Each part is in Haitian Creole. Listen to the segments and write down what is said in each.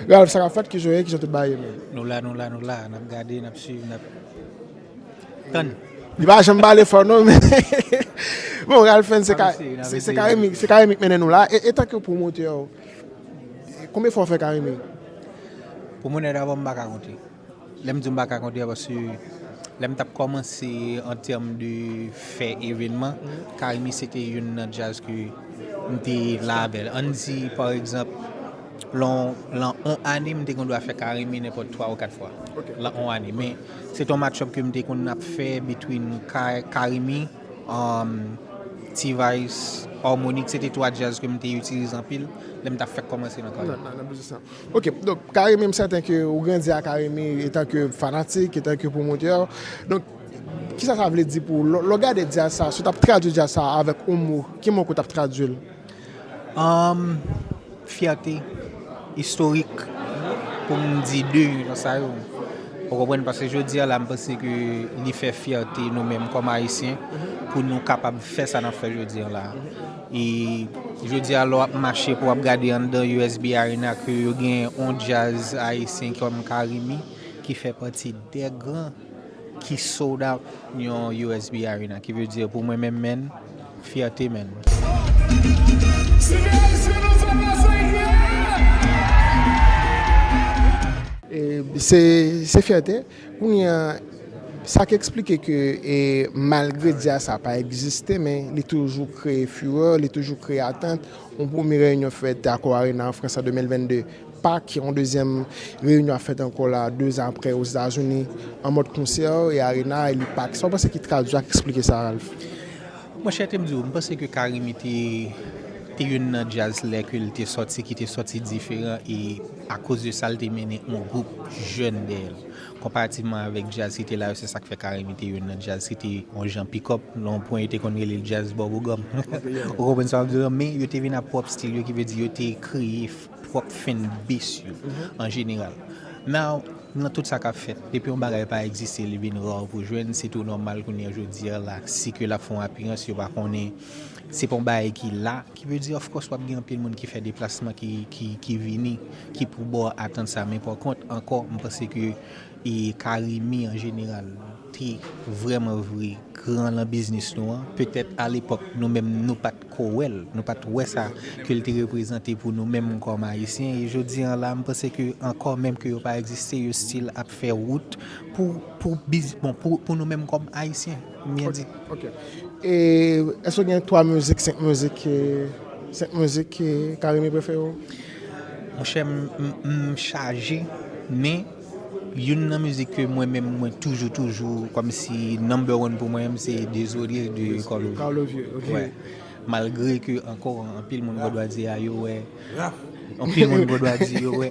Ralph sa kap fèt kijan w ye kijan tout bagay ye menm. Nou la nou la nou la nap gade nap swiv nap tann. Li pa janm pale fò non men bon Ralph Fens se Carimi se Carimi k mennen nou la e tanke pwomotè konbyen fwa w fè Carimi? Pou mwen nèt avan m pa ka konte. Lè m di w m pa ka konte a paske lè m t ap kòmanse an tèm de fè evènman, Carimi se te youn nan djaz ke m te la avè l. An n di pa egzanp lan yon ane m te gendwa fè Carimi nenpòt twa ou kat fwa lan yon ane. Men se te yon match-up ke m te konn ap fè between Carimi, T-vice, Harmonik. Se te twa djaz ke m te itilize anpil lè m t ap fèk kòmanse nan karyè m. Ok donk Carimi m sèten ke ou grandi a Carimi etan ke fanatik etan ke pwomotè donk kisa sa vle di pou ou lè w gade djaz sa si w tap tradwi djaz sa avèk yon mo ki mo ke w tap tradwi l? Fyète istorik pou m di 2 nan sa yo ou konprann paske jodi a la m panse ke li fè fyète nou menm kòm ayisyen pou nou kapab fè sa nap fè jodi a la. E jodi a lè w ap mache pou w ap gade anndan usb Arena ke yo gen yon djaz ayisyen kòm Carimi ki fè pati dè gran ki sold out yon usb Arena ki vle di pou mwen menm menn fyète menn. Se fyète. Kounye a, sa k eksplike ke malgre di a sa pa egziste men li toujou kreye furè, li toujou kreye atant. Yon premye reyinyon fèt Accor Arena an Frans an 2022, Pak, yon dezyèm reyinyon ap fèt ankò la 2 zan aprè Ozetazini an mòd konsè e Arena e li Pak. Sa w panse ki tradui ak eksplike sa Ralph? Monchè te m di w, m panse ke Carimi te te youn nan djaz lè ke l te sòti ki te sòti diferan e. Akoz de sa, l te mennen yon gwoup jèn dèyè l. Konparativman avèk djaz ki te la yo, se sa k fè Carimi te youn nan djaz ki te yon jan pikòp. Nan yon pwen, yo te konn rele l djaz bòbogòm. Ou konprann sa m ap di w la? Men, yo te vin ak pwòp stil yo, ki vle di yo te kreye pwòp fanbase yo an jeneral. Now, nan tout sa k ap fèt, depi yon bagay pa egziste, li vin rare pou w jwenn, se tou nòmal kounye a, jodi a la, si ke l ap fè yon apirans, yo pa konnen, se pa yon bagay ki la. Ki vle di of course wap gen anpil moun ki fè deplasman ki vini ki pou bo atant sa men pa kont anko m panse ke carimi an jeneral te vreman vre gran lan biznis nou an petèt a lepok nou menm nou pat ko wè l nou pat wè sa ke l te reprezante pou nou menm kom ayisyen e jodi an la m panse ke anko menm ke yo pa egziste yo stil ap fè wout pou pou biznis bon pou nou menm kom ayisyen. M byen di. Ok. E èske ou gen 3 mizik, 5 mizik ke, 5 mizik ke Carimi prefere w? Monchè m chaje men youn nan mizik ke mwen menm mwen toujou toujou kòm si number one pou mwen menm se Désolé de Carlo Vieux. Carlo Vieux, ok. Wè. Malgre ke ankò anpil moun Vodwazye a yo wè, anpil moun Vodwazye yo wè.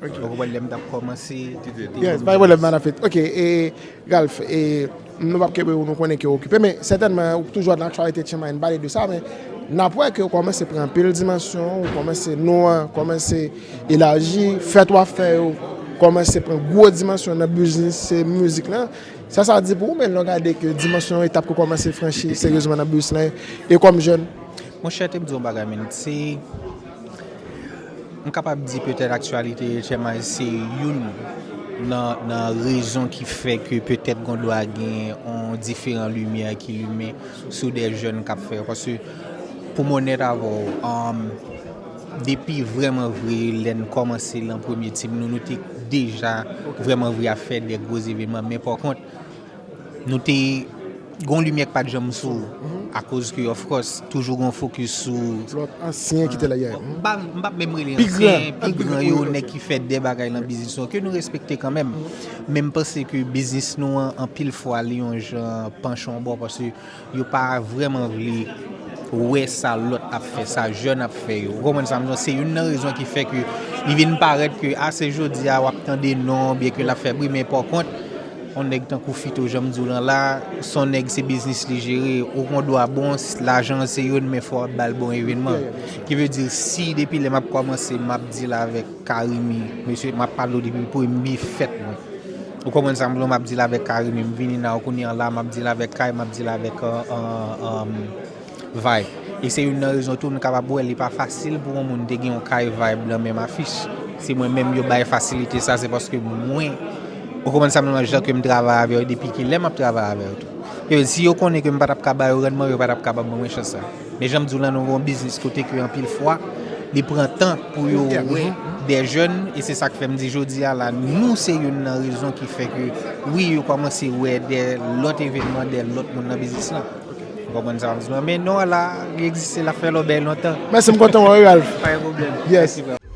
Poko wè lèm tap kòmanse. Yes pa gen pwoblèm madan Fate. Ok e Ralph e nou pap kenbe ou nou konnen ke ou okipe men sètènman ou toujou nan aktyalite Chiang Mai nou pale de sa men nap wè ke ou kòmanse pran anpil dimansyon ou kòmanse non an kòmanse elaji fèt wap fè yo kòmanse pran gwo dimansyon nan biznis se mizik lan sa sa di pou ou menn lè w gade ke dimansyon etap ke w kòmanse franchi seryezman nan biznis lan e kòm jèn. Monchè te m di w yon bagay menn se. M kapab di petèt aktyalite HMI se youn nan rezon ki fè ke petèt gondwa gen yon diferan limyè ki limen sou de jèn k ap fè. Paske pou m onèt avè w, depi vrèman vre lè n kòmanse lan premye tim nou, nou te deja vrèman vre ap fè de gwo evenman. Men pa kont, Nou te gon limyè k pat janm sou akoz ke of course toujou gon fokis sou Lòt ansyen ki te la yeah. M pa m pap menm rele yo ansyen, pi gran yo, nèg ki fè dè bagay nan biznis nou an ke nou respekte kanmenm. Men m panse ke biznis nou an anpil fwa li yon jan panche yon bò paske Yo pa vreman vle wè sa lòt ap fè, sa jèn ap fè yo. Ou konprann sa m di w? Se youn nan rezon ki fè ke li vin parèt ke a se jodi a w ap tande non byen ke l ap fè bri men pòkont on nèg tankou Fito jan m di w lan la s on nèg se biznis li jere ou gon dwa bon lajan se youn men fò w ap ba l bon evenman ki vle di si depi lè m ap kòmanse m ap di l avèk Carimi mesye m ap pale w depi premye fèt mwen. Ou konprann sa m vle map dil avèk carime m vini nan kounye an la map dil avèk kay map dil avèk vibe e se youn nan rezon tou nou kapab wè li pa fasil pou yon moun te gen yon kay vibe nan menm afich se mwen menm yo bay fasilite sa se paske mwen ou konprann sa m vle jan ke m travay avè yo depi kilè map travay avè yo tou si yo konnen ke m patap ka ba yo randman yo patap kapab ban mwen chans sa. Men janm diw lan nou gen yon biznis kote ke anpil fwa li pran tan pou yo wè dè jèn e se sak fèm di jodi a la nou se youn nan rezon ki fè ke wi yo kòmanse wè dè lòt evènman dè lòt moun nan biznis lan ou konprann sa men non la li egziste lap fè lòbèy lontan. Mèsi m kontan wè ou Ralph. Pa gen pwoblèm. Yes.